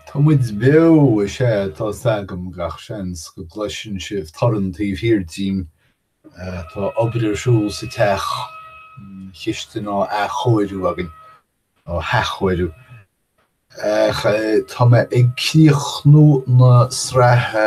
Tá muid beo, is ea, tá 's agam, gach seans go gcloiseann sibh torann taobh thiar dínn, tá obair ar siúl sa teach, an chistin á athchóiriú againn, á hathchóiriú, ach tá mé ag críochnú na sraithe.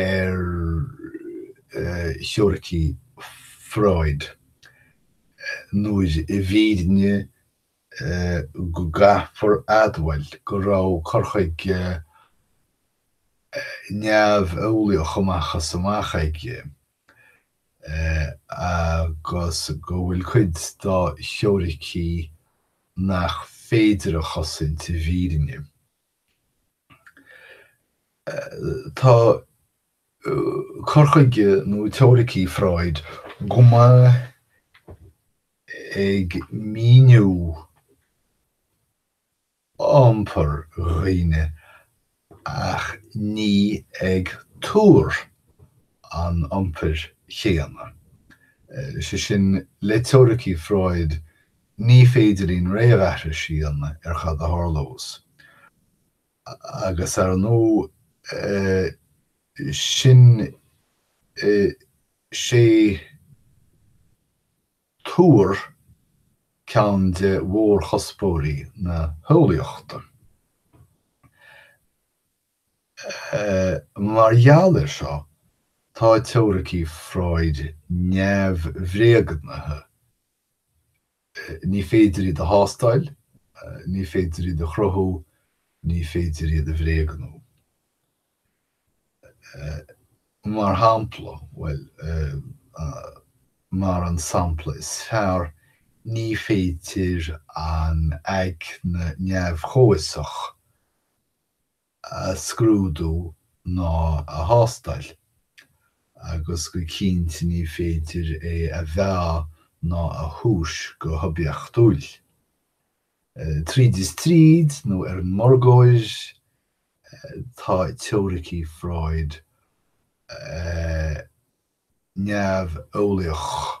ar theoiricí Freud nuair i bhfírinne go gcaithfear admháil go raibh cur chuige neamheolaíoch amach is amach aige agus go bhfuil cuid dá theoiricí nach féidir a chosaint i bhfírinne. Tá cur chuige nó teoiricí Freud go maith ag míniú iompar dhaoine ach ní ag tuar an iompair chéanna. Sé sin, le teoiricí Freud Ní féidir linn réamhaithris a dhéanamh ar cad a tharlós. Agus ar ndóigh, sin sé tuar ceann de mhórchuspóirí na heolaíochta. Mar gheall air seo, tá teoiricí Freud neamhbhréagnaithe. Ní féidir iad a thástáil, ní féidir iad a chruthú, ní féidir iad a bhréagnú. Mar shampla, bhuel, mar an sampla is fearr, ní féidir an aigne neamh-chomhfhiosach. a scrúdú ná a thástáil, agus go cinnte ní féidir é a mheá ná a thomhas go hoibiachtúil. Tríd is tríd, nó ar an mórgóir, tá teoiricí Freud neamheolaíoch.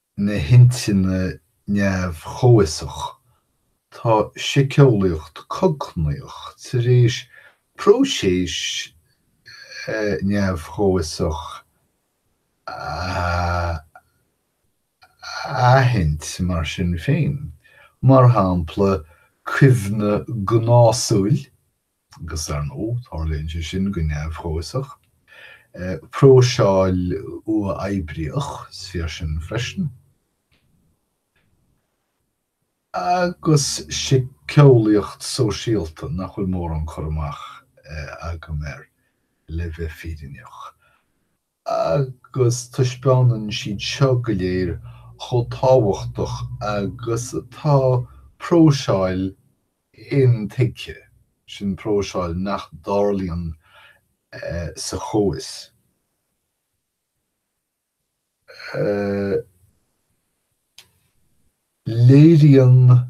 na hintinne neamh-chomhfhiosach, tá siceolaíocht cognaíoch tar éis próiseas neamh-chomhfhiosach a aithint mar sin féin, mar shampla, cuimhne gnásúil, agus ar ndóigh tarlaíonn sé sin go neamh-chomhfhiosach. Próiseáil uathoibríoch, is fíor sin freisin. Agus síceolaíocht sóisialta nach bhfuil mórán cur amach agam air le bheith fírinneach. agus taispeánann siad seo go léir chomh tábhachtach agus atá próiseáil intuigthe, sin próiseáil nach dtarlaíonn sa chomhfhios, léiríonn.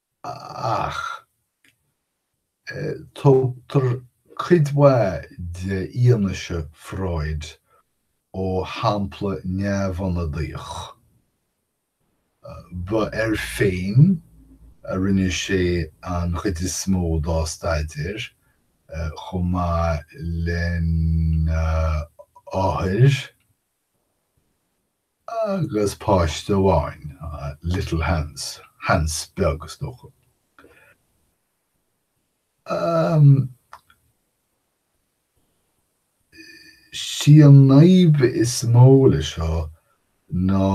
ach tógtar cuid mhaith de fhianaise Freud ó shampla neamhionadaíoch. Ba air féin a rinne sé an chuid is mó dá staidéar, chomh maith lena n-othair, agus páiste amháin, Little Hans, Hans Beag, is dócha. Sí an fhadhb is mó le seo ná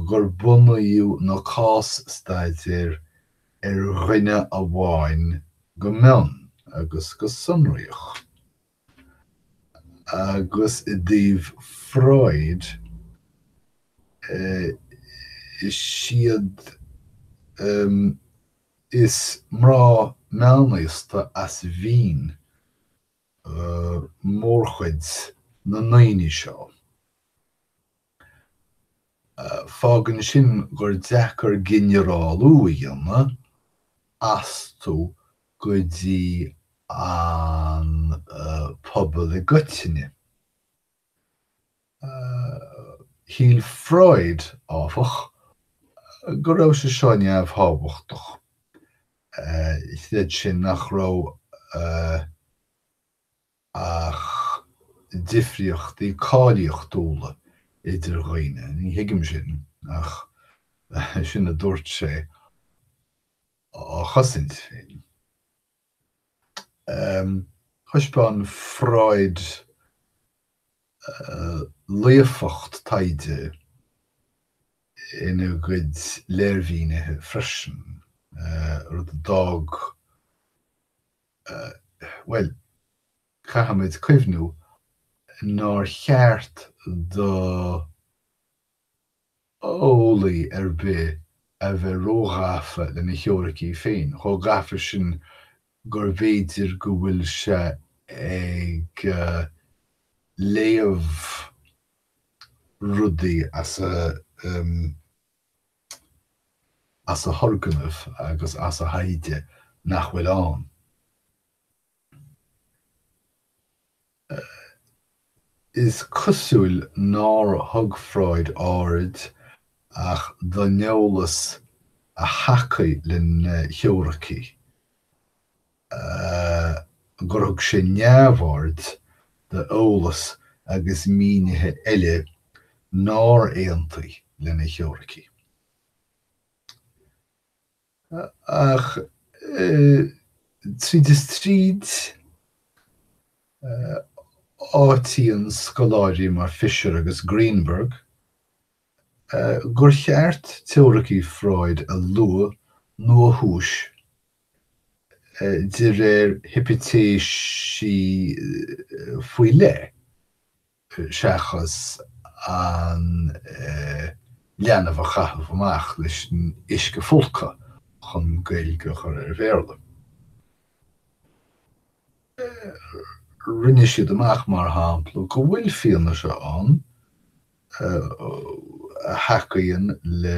gur bunaíodh na cás-staidéir ar dhuine amháin go mion agus go sonraíoch. Agus i dtaobh Freud, is éard is mná meánaosta as Vín mórchuid na ndaoine seo. Fágann sin gur deacair ginearálú a dhéanamh astu go dtí an pobal i gcoitinne. Shíl Freud, áfach, go raibh sé seo neamhthábhachtach. Chreid sé nach raibh. ach difríochtaí cáilíochtúla idir dhaoine, ní thuigim sin, ach sin a dúirt sé, á chosaint féin. Thaispeáin Freud laofacht taighde ina gcuid léirmhínithe freisin, rud a d'fhág bhuel, caithfimid cuimhniú nár cheart d'eolaí ar bith a bheith róghafa lena theoiricí féin, chomh gafa sin gurbh fhéidir go bhfuil sé ag léamh rudaí as a. as a thurgnaimh agus as a thaighde nach bhfuil ann. Is cosúil nár thug Freud aird ach don eolas a thacaigh lena theoiricí. a gur thug sé neamhaird d'eolas agus mínithe eile nár aontaigh lena theoiricí. Ach tríd is tríd, áitíonn scoláirí mar Fisher agus Greenberg gur cheart teoiricí Freud a luacháil nó a thomhas de réir hipitéisí faoi leith, seachas an leanbh a chaitheamh amach leis an uisce folctha chun Gaeilge a chur ar Bhéarla. Rinne siad amach, mar shampla, go bhfuil fianaise ann a thacaíonn le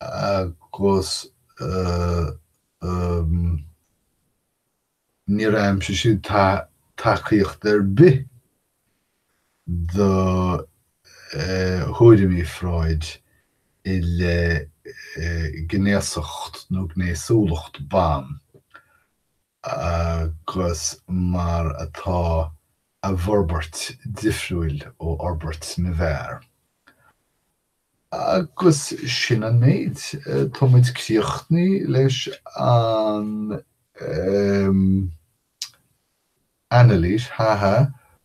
agus níor aimsigh siad tacaíocht ar bith do thuairimí Freud i leith gnéasacht nó gnéasúlacht ban. agus mar atá a bhforbairt difriúil ó fhorbairt na bhfear. Agus sin an méid, tá muid críochnaí leis an anailís, ha ha,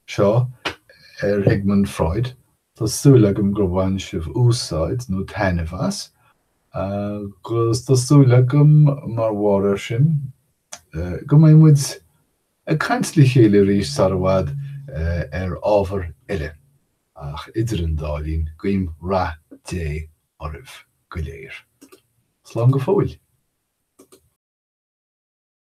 seo ar Sigmund Freud Tá súil agam gur bhain sibh úsáid nó taitneamh as, agus tá súil agam, mar bharr air sin, go mbeidh muid ag caint le chéile arís sara bhfad ar ábhar eile, ach idir an dá linn, guím rath Dé oraibh go léir. Slán go fóill.